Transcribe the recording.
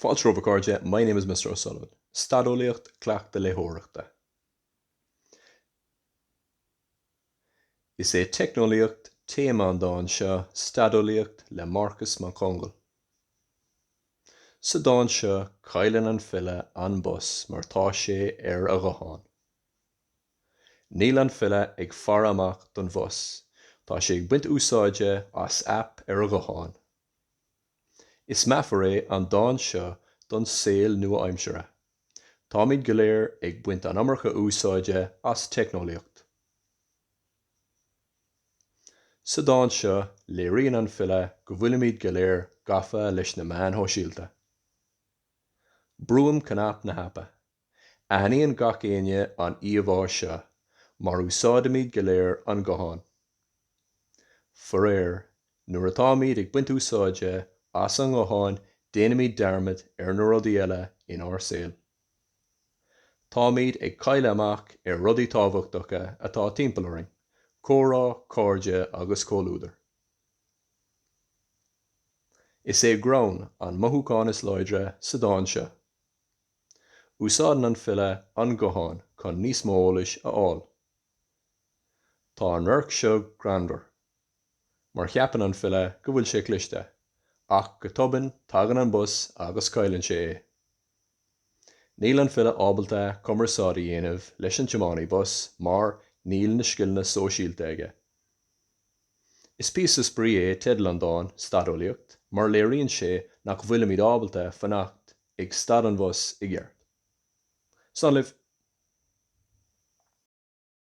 Fáilte romhaibh a chairde, my name is Mr O'Sullivan. Stadeolaíocht, Cleachtadh léitheoireachta. Is é Teicneolaíocht téama an dán seo, Stadeolaíocht le Marcus Mac Conghail. Sa dán seo cailleann an file an bus mar tá sé ar a ghuthán. Níl an file ag faire amach don bhus, tá sé ag baint úsáide as aip ar a ghuthán. Is meafar é an dán seo don saol nua-aimseartha. Táimid go léir ag baint an iomarca úsáide as teicneolaíocht. Sa dán seo léiríonn an file go bhfuilimid go léir gafa leis na meáin shóisialta. Brúim cnaipe na haipe. Aithníonn gach éinne an íomhá seo, mar úsáidimid go léir an guthán. Faraor, nuair atáimid ag baint úsáide as an nguthán déanaimid dearmad ar na rudaí eile inár saol. Táimid ag cailleadh amach ar rudaí tábhachtacha atá timpeall orainn, comhrá, cairde agus comhluadar. Is é greann an mothúchán is láidre sa dán seo. Úsáideann an file an guthán chun níos mó eolais a fháil. Tá an radharc seo greannmhar mar cheapann an file go bhfuil sé cliste ach go tobann tagann an bus agus cailleann sé é. Níl an file ábalta cumarsáid a dhéanamh leis an tiománaí bus mar níl na scileanna sóisialta aige. Is píosa spraoi é teideal an dán, Stadeolaíocht, mar léiríonn sé nach bhfuilimid ábalta fanacht ag stad an bhus i gceart. Slán libh.